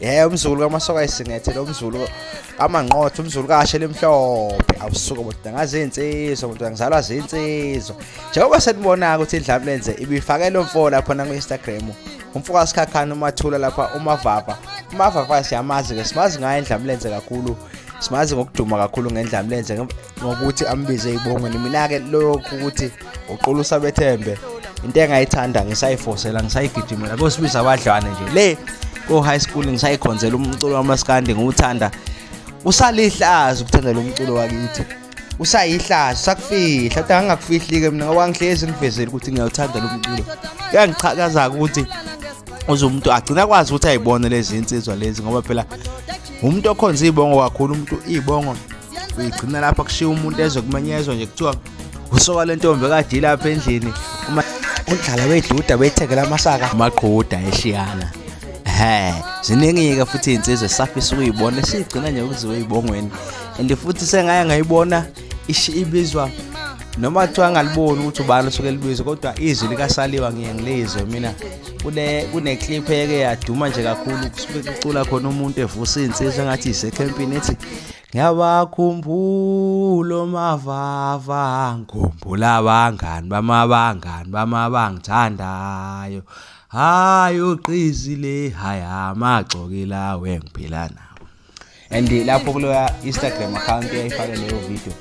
ye umzulu kamasoka ayisingethe lo mzulu amanqotho umzulu kashe lemhlophe awusuka bonke ngazi insizwa bonke ngizalwa zinsizwa njengoba senibona ukuthi indlamu lenze ibifake lo mfo lapha na ku Instagram umfo kasikhakhana umathula lapha umavava umavava siyamazi ke simazi ngaye indlamu lenze kakhulu simazi ngokuduma kakhulu ngendlamu lenze ngokuthi ambize ibongweni mina-ke lokhu ukuthi uqulusa bethembe into engayithanda ngisayifosela ngisayigijimela kosibiza abadlwane nje le ko-high school ngisayikhonzela umculo wamaskandi ngiwuthanda usalihlaza ukuthandela umculo wakithi usayihlaza usakufihla kodwa angingakufihli-ke mina ngoba ngihlezi ngivezele ukuthi ngiyawuthanda lo mculo kuyangichakaza-ke ukuthi uze umuntu agcina akwazi ukuthi ayibone lezi nsizwa lezi ngoba phela umuntu okhonza iy'bongo kakhulu umuntu iy'bongo uyigcina lapha kushiya umuntu ezwe kumenyezwa nje kuthiwa usoka le ntombi kade ilapha endlini uma undlala weduda wethekela amasaka amaqhuda eshiyana he ziningi-ke futhi iy'nsizwa esafisa ukuyibona esiyigcina nje ukuziwe ey'bongweni and futhi sengaye ngayibona ibizwa noma kuthiwa angaliboni ukuthi ubani osuke libizo kodwa izwi likasaliwa ngiye ngilizwe mina kune-clip eke yaduma nje kakhulu kusuke kucula khona umuntu evusa iy'nsizwa engathi isekhempini ethi Ngiyabakhumbula omavava, ngikhumbula abangani bamabangani bami abangithandayo. Hhayi ugqizi le, hhayi amagxoki lawo engiphila nawo. And lapho kuleya Instagram account eyayifake leyo video